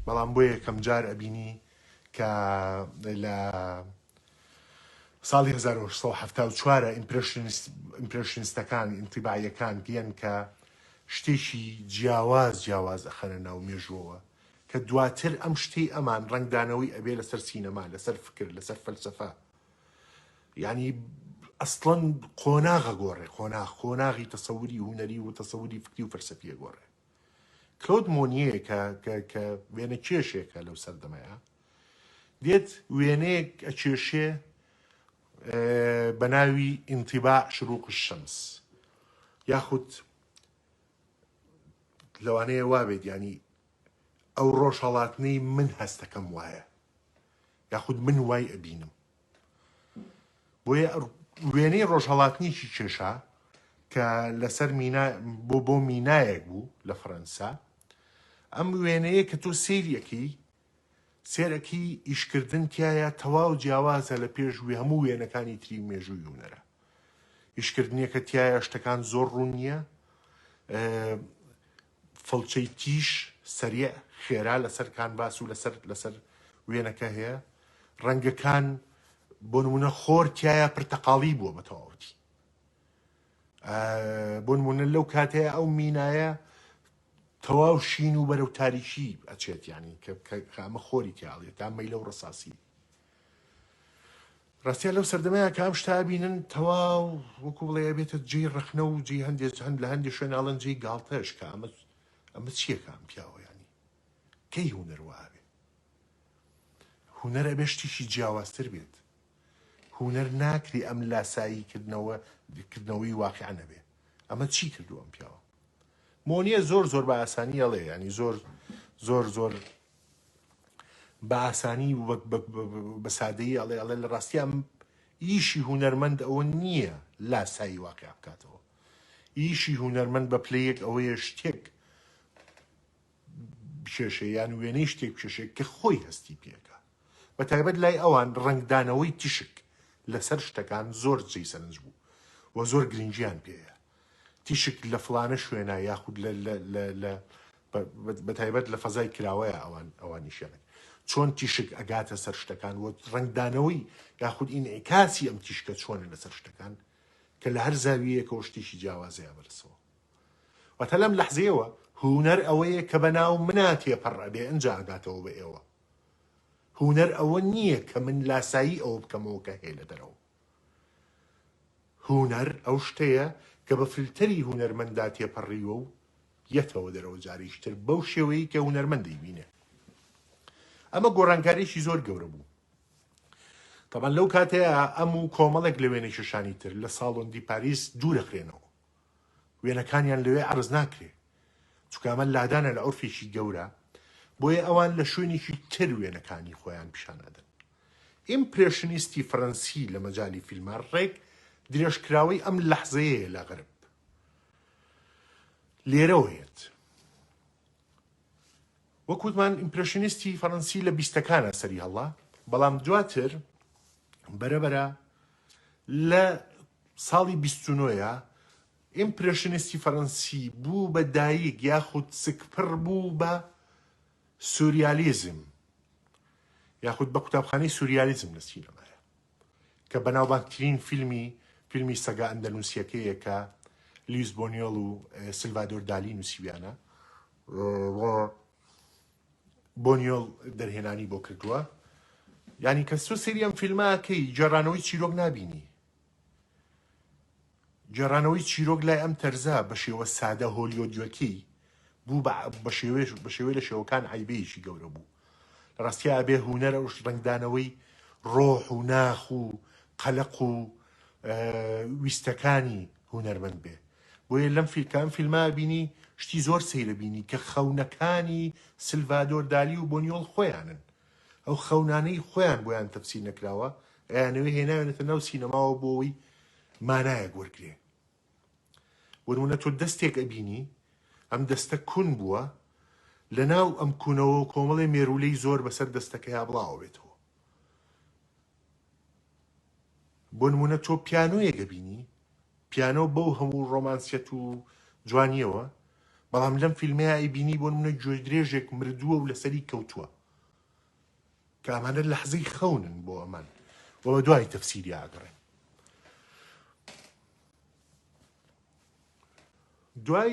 بەڵام بۆ یەکەم جار ئەبینی کە لە ساڵی 1970وارە ئیمپرشنستەکان ئینتیباعەکان دیەن کە شتێکی جیاواز جیاواز ئەخەنە ناو مێژوەوە کە دواتر ئەم شتەی ئەمان ڕەنگدانەوەی ئەبێ لەسەر سینەما لەسەر فکر لەسەر فەلسەفە یعنی ئەسڵەن قۆناغە گۆڕێ قۆناغ قۆناغی تەسەوری هوەری و تەسەوری فکری و فەرسەفیە گۆڕێ کلۆد مۆنیەکە کە وێنە کێشێکە لەو سەردەمەیە دێت وێنەیەک ئەچێشێ بە ناوی ئینتیبا شروق شەمس یاخود لەوانەیە وابێت ینی ئەو ڕۆژهەڵاتنەی من هەستەکەم وایە یاخود من وای ئەبینم بۆیە وێنەی ڕۆژهەڵاتنیکی کێشا کە لەسەر مینا بۆ بۆ مینایەک بوو لە فەرەنسا ئەم وێنەیە کە تۆ سێریەکەی سێرەکی ئیشکردن تایە تەواو جیاوازە لە پێش وێ هەموو وێنەکانی تری مێژوو یونەرە ئیشکردنیەکە تایە شتەکان زۆر ڕوون نییە فڵچەی تیژ، سەریع، خێرا لەسەر کانڤاس و لەسەر لەسەر وێنەکە هەیە. ڕەنگەکان، بۆ نموونە خۆر تیایا پرتەقاڵی بووە بە تەواوەتی. بۆ نموونە لەو کاتەیە ئەو مینایە تەواو شین و بەرەو تاریکی ئەچێت یانی کە کە کە ئەمە خۆری تیا ئەڵێت تا مەیلەو ڕەساسی. ڕاستیە لەو سەردەمەیە کە ئەم شتە بینن تەواو وەکو بڵێ بێتە جێی ڕخنە و جێ هەندێک هەند لە هەندی شوێناڵن جێی گاڵتەش کە ئەمە ئەمە چیەکە ئەم پیاوەیانی کەی هوەر وابێ هوەر ئەبێ شتیشی جیاوازتر بێت هوەر ناکری ئەم لاسایی کردنەوە کردنەوەی واقع نەبێ ئەمە چی کردو ئەم پیاوە مۆنیە زۆر زۆر بە ئاسانی ئەڵێ ینی زۆر زۆر زۆر بە ئاسانی و بە سادەیی ئەڵێ ئەڵێ لە ڕاستیا ئیشی هونەرمەند ئەوە نییە لاسایی واقع بکاتەوە ئیشی هونەرمەند بە پلەیەک ئەوەیە شتێک بکێشێ یان وێنەی شتێک بکێشێک کە خۆی هەستی پێەکە بە تایبەت لای ئەوان ڕنگدانەوەی تیشک لەسەر شتەکان زۆر جێی سەرنج بوو و زۆر گرنگیان پێەیە تیشک لە فڵانە شوێنە یاخود لە لە لە لە بە بە تایبەت لە فەزای کراوەیە ئەوان ئەوان ئیشیان ئەکەن چۆن تیشک ئەگاتە سەر شتەکان و ڕەنگدانەوەی یاخود ئینعیکاسی ئەم تیشکە چۆنە لەسەر شتەکان کە لە هەر زاویەیەکەوە شتێکی جیاوازەیە بەرسەوە واتە لەم لەحزەیەوە هونەر ئەوەیە کە بە ناو منا تێپەڕ ئەبێ ئەنجا ئەگاتەوە بە ئێوە هونەر ئەوە نییە کە من لاسایی ئەوە بکەمەوە کە هەیە لە دەرەوە هونەر ئەو شتەیە کە بە فلتەری هونەرمەندا تێپەڕیوە و یەتەوە دەرەوە جاریش تر بەو شێوەیەی کە هونەرمەند دەیبینێ ئەمە گۆڕانکاریەکی زۆر گەورە بوو تەبەن لەو کاتەیە ئەم و کۆمەڵێک لە وێنەکێشانی تر لە ساڵۆن دی پاریس دوورەخرێنەوە وێنەکانیان لەوێ عەرز ناکرێ چونکە ئەمە لادانە لە عورفێکی گەورە بۆیە ئەوان لە شوێنێکی تر وێنەکانی خۆیان پیشان ئەدەن ئیمپرێشنیستی فەرەنسی لە مەجالی فیلمە ڕێک درێژکراوەی ئەم لەحزەیەیە لە غەرب لێرەوەیەت وەک وتمان ئیمپرێشنیستی فەرەنسی لە بیستەکانا سەری هەڵا بەڵام دواتر بەرەبەرە لە ساڵی بیستنۆە ئیمپرێشنیستی فەرەنسی بوو بە دایک یاخود سکپڕ بوو بە سوریالیزم یاخود بە قوتابخانەی سوریالیزم لە سینەما کە بەناوبانگترین فیلمی فیلمی سەگە ئەندەنوسییەکەیە کە لیوس بۆنیۆڵ و سلڤادۆر دالی نووسیویانە و بۆنیۆڵ دەرهێنانی بۆ کردووە ینی کە سۆ سریەم فیلمەکەی جێرانەوەی چیرۆک نبینی گێڕانەوەی چیرۆک لای ئەم تەرزە بە شێوە سادە هۆلیۆدیەکەی بوو بە شێوێش بە شێوەی لە شێوەکان عیبەیەکی گەورە بوو لە ڕاستیا ئەبێ هوونەر ئەو ڕنگدانەوەی ڕۆح و ناخ و قەلق و ویستەکانی هوونەرمەند بێ بۆیە لەم فیلکان فیلما بینی شتی زۆر سەیرە بینی کە خەونەکانی سلڤادۆر دالی و بۆنیۆڵ خۆیانن ئەو خەونانەی خۆیان بۆیان تەفسیر نەکراوە، ئەیانەوێ هێناوێنەتە ناو سینەماوە بۆ ئەوەی مانایەک وەرگرێ. بۆ نموونە تۆ دەستێک ئەبینی، ئەم دەستە کون بووە، لەناو ئەم کونەوە کۆمەڵێ مێروولەی زۆر بەسەر دەستەکەیا بڵاوەبێتەوە. بۆ نموونە تۆ پیانۆیەک ئەبینی، پیانۆ بەو هەموو ڕۆمانسیەت و جوانییەوە، بەڵام لەم فیلمەیا ئەیبینی بۆ نموونە گوێدرێژێک مردووە و لەسەری کەوتووە، کە ئەمانە لەحزەی خەونن بۆ ئەمان و بەدوای تەفسیریا ئەگەڕێن. دوای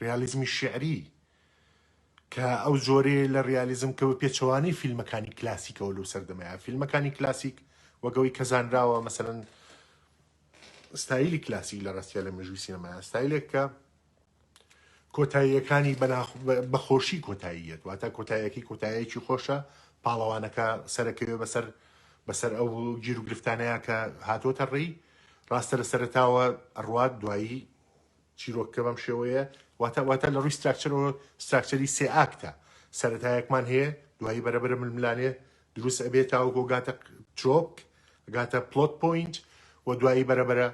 ڕیالیزمی شیعری، کە ئەو جۆرەیە لە ڕیالیزم کە بە پێچەوانەی فیلمەکانی کلاسیکەوە لەو سەردەمەیە، فیلمەکانی کلاسیک وەک ئەوەی کە زانراوە مەسەلەن ستایلی کلاسیک لە ڕاستیا لە مێژووی سینەمایە ستایلێک کە کۆتاییەکانی بە خۆشی کۆتاییەت واتە کۆتاییەکەی کۆتایەکی خۆشە پاڵەوانەکە سەرەکەوێ بەسەر بەسەر ئەو گیر و گرفتانەیە کە هاتۆتە ڕێی ڕاستە لە سەرتاوە ئەڕوات دوایی چیرۆکەکە بەم شێوەیە، واتا واتا لە ڕووی ستراکچەرەوە ستراکچەری سێ ئاکتە، سەرەتایەکمان هەیە، دوایی بەرە بەرە ململانێ دروست ئەبێ تاوەکۆ گاتە ترۆپک، گاتە پلۆت پۆینت و دوایی بەرە بەرە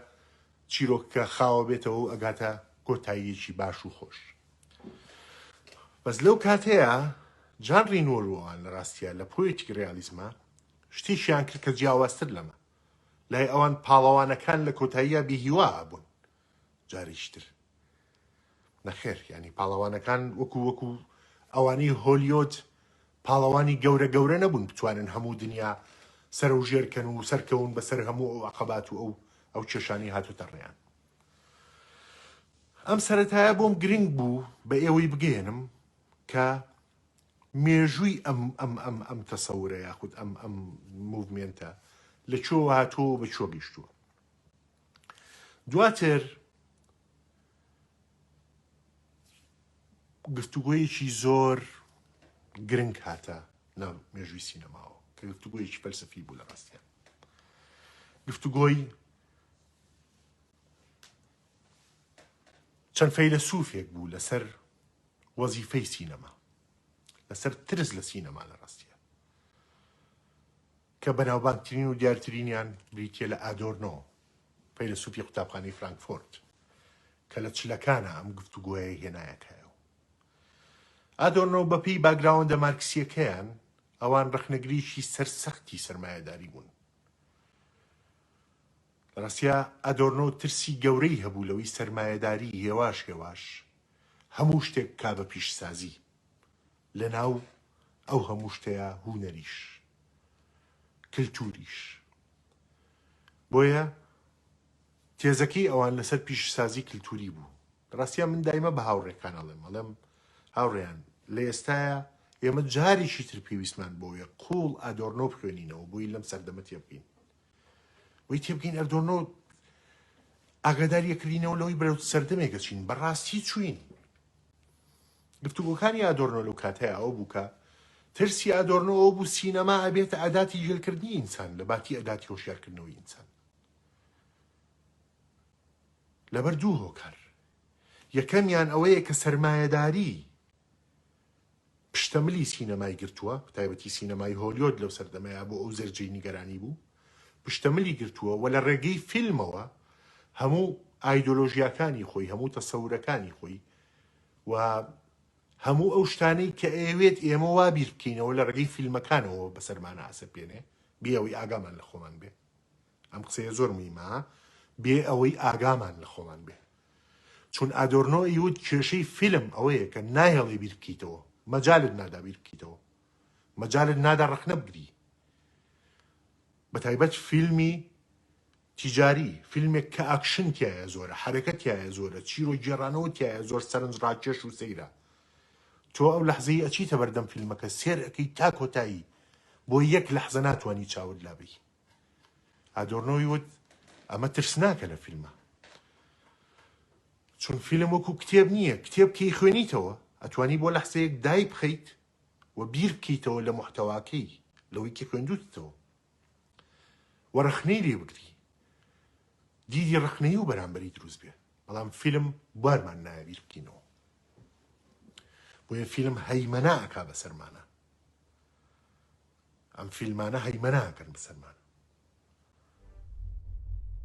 چیرۆکەکە خاوە بێتەوە و ئەگاتە کۆتاییەکی باش و خۆش. بەس لەو کاتەیە جان رینۆر و ئەوان لە ڕاستیە لە پۆیتیک ڕیالیزمە شتێکیان کرد کە جیاوازتر لەمە لای ئەوان پاڵەوانەکان لە کۆتاییە بیهیوا بوون جاریش تر نەخێر یانی پاڵەوانەکان وەکو وەکو ئەوانی هۆلیۆد پاڵەوانی گەورە گەورە نەبوون بتوانن هەموو دنیا سەرە و ژێرکەن و سەرکەون بەسەر هەموو ئەو عقبات و ئەو ئەو کێشانی هاتوتە ڕێیان ئەم سەتایە بۆم گرنگ بوو بە ئێوەی بگەێنم کە مێژووی ئەم ئەم ئەم ئەم تەسەورە یاخود ئەم ئەم موڤمنتە لە چۆ هاتۆ بە چۆ گەشتووە دواتر گفتوگۆیەکی زۆر گرنگ هاتە ناو مێژووی سینەماوە کە گفتوگۆیەکی فەلسفی بوو لە ڕاستیان گفتوگۆی چەند فەیلە سوفێک بوو لەسەر وەزیفەی سینەما لەسەر ترس لە سینەما لە ڕاستیە کە بەناوبانگترین و دیارترینیان بریتییە لە ئادۆرنۆ، فەیلەسوفی قوتابخانەی فرانکفۆرت، کە لە چلەکانا ئەم گفتوگۆیەی هێنایە کایەوە. ئادۆرنۆ بە پێی باگراوەندە مارکسییەکەیان، ئەوان ڕەخنەگرێکی سەرسەختی سەرمایەداری بوون. لە ڕاستییا ئادۆرنۆ ترسی گەورەی هەبوو لەوەی سەرمایەداری هێواش هێواش هەموو شتێک بکا بە پیشەسازی. لەناو ئەو هەموو شتەیا هونەریش کلتوریش بۆیە تێزەکەی ئەوان لەسەر پیشسازی کلتوری بوو ڕاستیە من دایمە بە هاوڕێکان ئەڵێم ئەڵێم هاوڕێیان لە ئێستایا ئێمە جارێکی تر پێویستمان بۆیە قوڵ ئادۆرنۆ بخوێنینەوە بۆی لەم سەردەمە تێبگەین بۆی تێبگەین ئەردۆرنۆ ئاگاداریەکردینەوە لەوەی بەرەو سەردەمێکە چین بەڕاستی چوین گفتوگۆکانی ئادۆرنۆ لەو کاتەیا ئەوە بوو کە ترسی ئادۆرنۆ ئەوە بوو سینەما ئەبێتە ئەداتی ژیلکردنی ئینسان لە باتی ئەداتی هۆشیارکردنەوەی ئینسان لەبەر دوو هۆکار یەکەمیان ئەوەیە کە سەرمایەداری پشتەملی سینەمای گرتووە تایبەتی سینەمای هۆلیۆد لەو سەردەمەیە بۆ ئەو زەرجەی نیگەرانی بوو پشتەملی گرتووە و لە ڕێگەی فیلمەوە هەموو ئایدۆلۆژیاکانی خۆی هەموو تەسەورەکانی خۆی و هەموو ئەو شتانەی کە ئەیەوێت ئێمە وا بیر بکەینەوە لە ڕێگەی فیلمەکانەوە بەسەرمانە ئاسەپێنێ بێ ئەوەی ئاگامان لە خۆمان بێ ئەم قسەیە زۆر مهمە بێ ئەوەی ئاگامان لە خۆمان بێ چون ئادۆرنۆ یوت کێشەی فیلم ئەوەیە کە نایەڵێ بیر بکەیتەوە مەجالت نادا بیر بکەیتەوە مەجالت نادا ڕەخنە بگری بە تایبەت فیلمی تیجاری، فیلمێک کە ئاکشن تیایە زۆرە، حەرەکە تیایە زۆرە، چیرۆک گێڕانەوە تیایە زۆر سەرنج ڕاکێش و سەیرە. تۆ ئەو لەحزەی ئەچیتە بەردەم فیلمەکە سێر ئەکەی تا کۆتایی بۆ یەک لەحزە ناتوانی چاوت لا بەی. ئادۆرنۆی وت ئەمە ترسناکە لە فیلمە. چون فیلم وەکو کتێب نییە، کتێب کەی خوێنیتەوە ئەتوانی بۆ لەحزەیەک دایبخەیت و بیر بکەیتەوە لە موحتەواکەی لەوەی کە خوێندوتتەوە. و ڕەخنەی لێ بگری دیدی ڕەخنەیی و بەرامبەری دروست بێ بەڵام فیلم بوارمان نایە بیر بکەینەوە بۆیە فیلم هەیمەنا ئەکا بەسەرمانە ئەم فیلمانە هەیمەناکەن بەسەرمان